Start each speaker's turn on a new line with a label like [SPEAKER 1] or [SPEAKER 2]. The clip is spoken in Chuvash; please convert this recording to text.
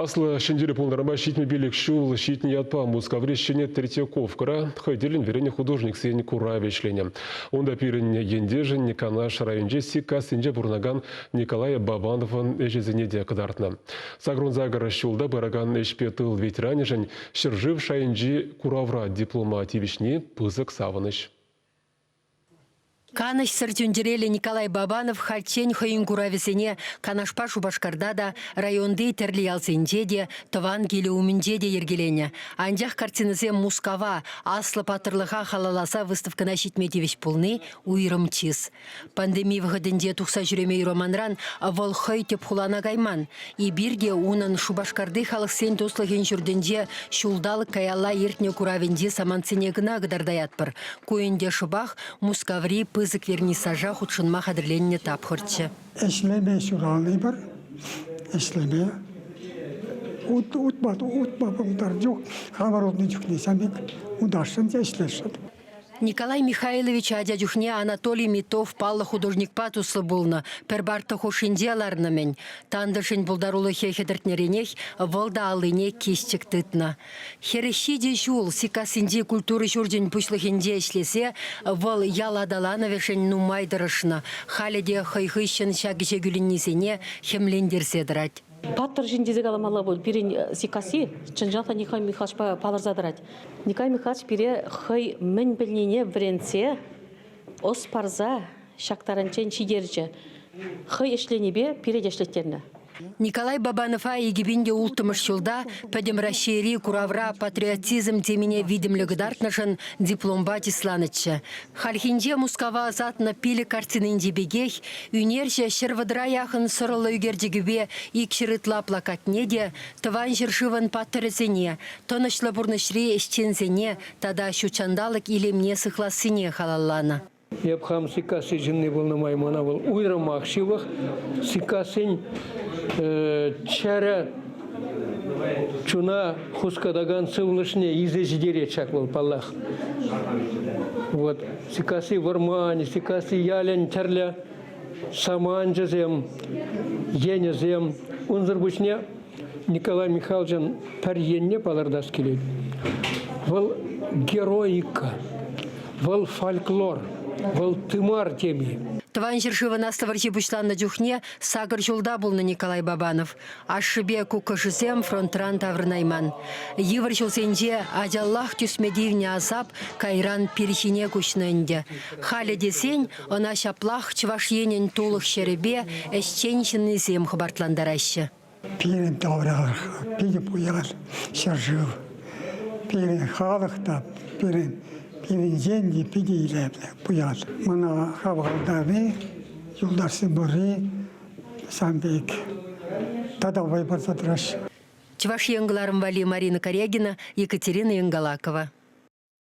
[SPEAKER 1] Аслӑ Ҫӗнтерӳ пултарма ҫитнӗ пилӗк ҫул ҫитнӗ ятпа Мускаври Ҫӗнӗ Третьяковкӑра хӑй тӗллӗн вӗреннӗ художниксен куравӗ ӗҫленӗ. Унта пирӗн ентешӗн Канаш районӗнчи Сиккассинче пурӑнакан Николай Бабановӑн ӗҫӗсене те кӑтартнӑ. Сакӑрун-сакӑр ҫулта пыракан ӗҫпе тыл ветеранӗшӗн ҫӗршыв шайӗнчи куравра диплома тивӗҫни пысӑк савӑнӑҫ.
[SPEAKER 2] Канӑҫсӑр чун-чӗреллӗ Николай Бабанов хальччен хӑйӗн куравӗсене Канашпа Шупашкарта та, районти тӗрлӗ ялсенче те, тӑван килӗ умӗнче те йӗркеленӗ. Анчах картинӑсем Мускава, аслӑ паттӑрлӑха халалласа выставкӑна ҫитме тивӗҫ пулни уйрӑм чыс. Пандеми вӑхӑтӗнче тухса ҫӳреме юраманран вӑл хӑй тӗп хулана кайман. Эпир те унӑн Шупашкарти халӑхсен туслӑхӗн ҫуртӗнче ҫулталӑк каялла иртнӗ куравӗнчи самантсене кӑна кӑтартаятпӑр. Ку ӗнтӗ шӑпах Мускаври пысӑк вернисажа хутшӑнма хатӗрленнӗ тапхӑрччӗ. Ӗҫлеме
[SPEAKER 3] ҫуралнипӗр, ӗҫлеме ут, утма, утма пултар чух, аварулнӑ чухне сан пек утасшӑн те ӗҫлесшӗн. Николай
[SPEAKER 2] Михайлович ача чухне Анатолий Митов паллӑ художникпа туслӑ пулнӑ, пӗр парта хушшинче ларнӑ-мӗн. Тантӑшӗн пултарулӑхӗ хӗтӗртнӗренех вӑл та аллине кисчӗк тытнӑ. Хӗрӗ ҫичӗ ҫул Сиккассинчи культура ҫурчӗн пуҫлӑхӗнче ӗҫлесе вӑл ял аталанӑвӗшӗн нумай тӑрӑшнӑ, халӗ те хӑй хыҫҫӑн ҫак ӗҫе кӳленнисене хӗмлентерсе тӑрать. Паттӑр ҫын
[SPEAKER 4] тесе каламалла пуль. Пирӗн э, Сиккасси чӑнҫах та Николай Михайловичпа палӑрса тӑрать. Николай Михайлович пире хӑй мӗн пӗлнине вӗрентсе, ӑс парса ҫак таранччен ҫитерчӗ. Хӑй ӗҫленипе пире те ӗҫлеттернӗ. Николай
[SPEAKER 2] Бабанова икӗпин те улттӑмӗш ҫулта Пӗтӗм Раҫҫейри куравра патриотизм темине витӗмлӗ кӑтартнӑшӑн дипломпа чысланӑччӗ. Хальхинче Мускава ӑсатнӑ пилӗк картининчи пекех ӳнерҫӗ ҫӗр вӑтӑра яхӑн сӑрӑллӑ ӳкерчӗкӗпе икҫӗр ытла плакатне те Тӑван ҫӗршывӑн паттӑрӗсене, тӑнӑҫлӑ пурнӑҫри ӗҫченсене тата ҫут ҫанталӑк илемне сыхлассине халалланӑ. Эп хам
[SPEAKER 5] Сиккасси ҫынни пулнӑ май мана вӑл уйрӑмах ҫывӑх. Сиккассин чӗрӗ Чуна хускатакан сывлӑшне илсе ҫитерет ҫак вӑл, паллах. Вот. Сиккасси вӑрман, Сиккасси ялӗн тӗрлӗ саманчӗсем, енӗсем. Унсӑр пуҫне Николай Михайловичӑн пӗр енне палӑртас килет. Вӑл героика, вӑл фольклор, вӑл тымар теми. Тӑван ҫӗршывӑн
[SPEAKER 2] Аслӑ вӑрҫи пуҫланнӑ чухне сакӑр ҫулта пулнӑ Николай Бабанов. Ашшӗпе куккӑшӗсем фронтран таврӑнайман. Йывӑр ҫулсенче ачаллах тӳсме тивнӗ асап кайран пирхине куҫнӑ ӗнтӗ. Халӗ тесен ӑна ҫаплах Чӑваш Енӗн тулӑх ҫӗрӗпе ӗҫчен ҫыннисем хӑпартлантараҫҫӗ. Пирӗн
[SPEAKER 3] тавраш, пирӗн пуян ҫӗршыв. Пирӗн халӑх та пирӗн пирӗнтен те питӗ илемлӗ пуян. Мана хавхалантарни, юлташсем пурри Сан пек.
[SPEAKER 2] Тата вӑй парса тӑраҫҫӗ. Чӑваш Ен кӑларӑм валли Марина Корягина, Екатерина Енгалакова.